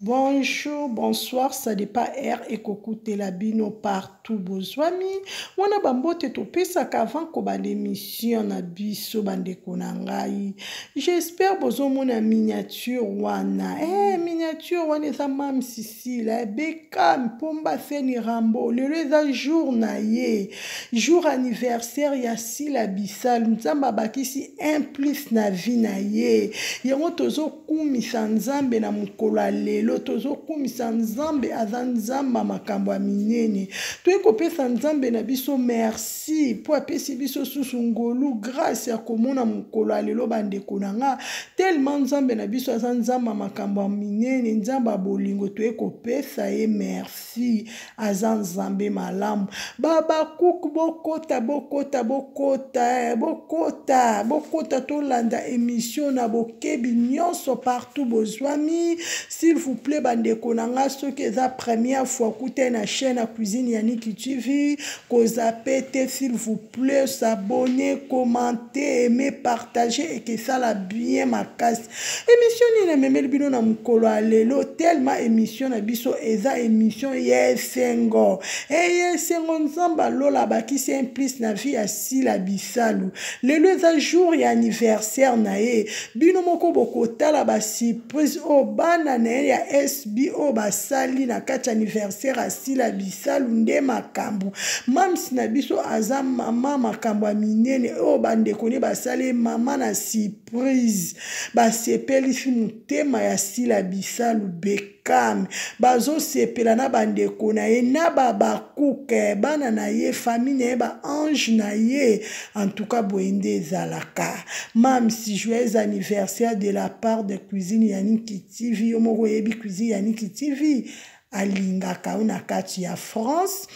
Bonjour, bonsoir, ça dépend heure ekokutela bino partout bozwami wana bambote topesaka avant kobanda émission na biso bandeko na ngai j'espère bozomona miniature wana eh, miniature wana eza mamsi sila bekam pomba seni rambo lelo eza jour na ye jour anniversaire ya sila bisalu nzambe abakisi un plus na vie na ye yango tozokumisa nzambe na mokolo ya lelo tozokumisa nzambe aza nzambe makambo ya minene toyei kopesa nzambe na biso merci mpo apesi biso susu ngolu grace ya komona mokolo ya lelo bandeko na nga Tellement Nzambe na biso aza Nzambe makambo minene, Nzambe bolingo toye kopesa ye merci. Aza Nzambe malamu. Babakuk bokota bokota bokota eh, bokota bokota tolanda emission na bokebi nyonso partout bozwami. S'il vous plaît bandeko na nga soki eza première fois kuta na chaîne ya cuisine ya Niki TV kozape te s'il vous plaît. plus abonne commente aime partage eke esala bien makasi émission nini namemeli bino na mokolo ya lelo tellement émission na biso eza émission ya esengo eye esengo nzambe alola abakisi un plus na vie ya sila bisalu lelo eza jour ya anniversaire na ye bino moko bokotala basi prise oyo bana na ye ya sb oyo basali na kati ya anniversaire ya sila bisalu nde makambo mams na biso aza mama makambo ya minene oyo bandeko ne basali mama na surprise basepelisi motema ya sila bisalu beka kame bazosepela na bandeko na ye na babakuke bana na ye famille na ye baange na ye En tout cas, Boende Zalaka. Mam, si joyeux anniversaire de la part de cuisine Yannick TV. Yo moko yebi cuisine Yannick TV. Alingaka una kati ya France.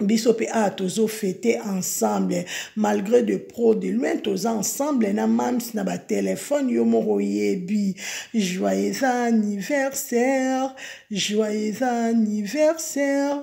biso mpe awa tozofete ensemble malgré de pro de loin toza ensemble na mams na batelefone yo moko oyebi joyeux anniversaire joyeux anniversaire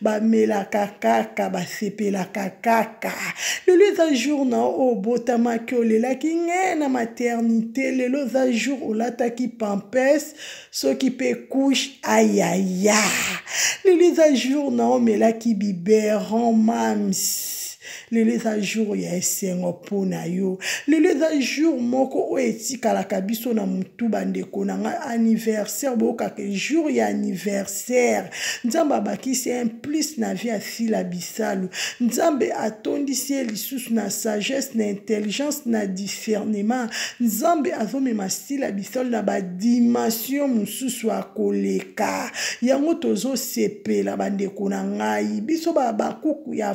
bamelaka kaka basepelaka kaka lelo eza jour na oyo obotamaki olelaki nge na maternité lelo eza jour olataki pampes soki mpe couche ayaya lelo eza jour na omelaki biberon mams lelo eza jour ya esengo mpo na yo lelo eza jour moko oyo etikalaka biso na motu bandeko na ngai anniversaire boyokaka jour ya anniversaire nzambe abakisi un plus na vie asila bisalu nzambe atondisi ye lisusu na sagesse na intelligence na discernement nzambe azomema sila bisalu na badimension mosusu akoleka yango tozosepela bandeko na ngai biso babakuku ya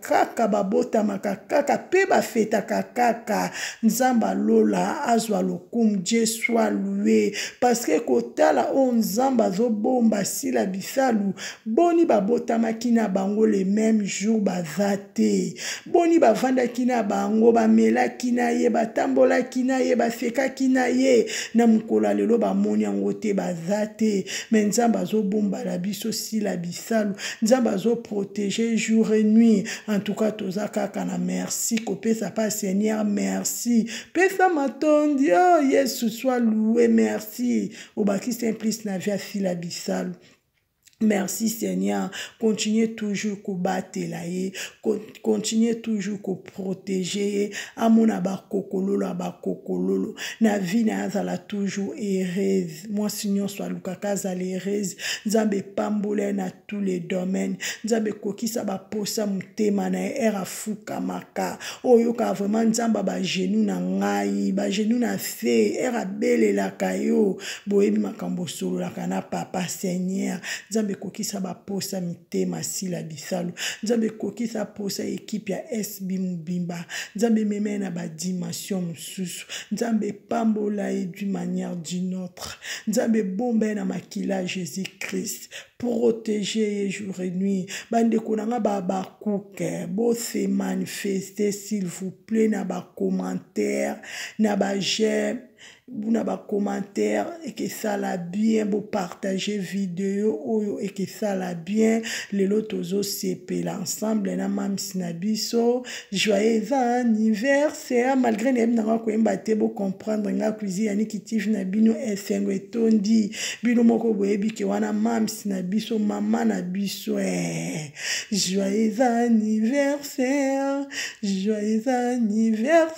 kaka babotamaka kaka mpe bafetaka kaka nzambe alola azwa lokumu je soit lue parceke kotala oyo nzambe azobomba sila bisalu boni babotamaki na bango le meme jour baza te boni bavandaki na bango bamelaki na ye batambolaki na ye basekaki na ye na mokolo ya lelo bamoni yango te baza te me nzambe azobombala biso sila bisalu bisalu nzambe azo protege jour et nuit en tout cas toza kaka na merci kopesa pa seigneur merci pesa matondi oh yesu soit loue merci obakisi un plus na vie asila bisalu merci seigneur continue toujours kobatela ye continuer toujours ko protéger ye amona bakokololo abakokololo na vie na ye azala toujours heureuse mwasi nyonso alukaka azala heureuse nzambe epambola ye na tous les domaines nzambe ekokisa baposa motema na ye ere afukamaka oyokaka vraiment nzambe bagenou na ngai bagenou na se ere abelelaka yo boyebi makambo osololaka na papa seigneur nzambe ekokisa baposa mitema motema asila bisalu nzambe ekokisa mposa ya ekipe ya sb mobimba nzambe emema ye na badimension mosusu nzambe epambola ye d'une manière d'une autre nzambe ebomba ye na makila ya jésus christ protege ye jour et nuit bandeko na ngai babakuke bose manifeste s'il vous plaît na bacommentaire na bajeme buna ba commentaire ekesala bien bo partager video oyo ekesala bien lelo tozo sepela ensemble na mamsi na biso joyeux anniversaire malgré nayebi na nga koyemba te bo comprendre nga cuisine ya nikitive na bino esengo etondi bino moko boyebi ke wana mamsi na biso mama na biso eh. joyeux anniversaire joyeux anniversaire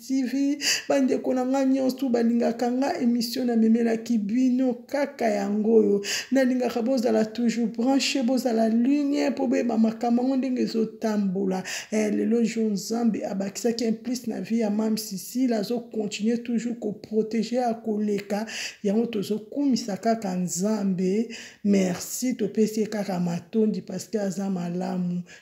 TV bandeko na ngai nyonso balingaka nga emission namemelaki bino kaka yango oyo nalingaka bozala toujours branche bozala ligne mpo boyeba makambo yango ndenge ezotambola eh, lelo jour nzambe abakisaki un plus na vie ya mam sisile azokontinue toujours koprotege ya koleka yango tozokumisa kaka nzambe merci topesi ye kaka matondi parceke aza malamu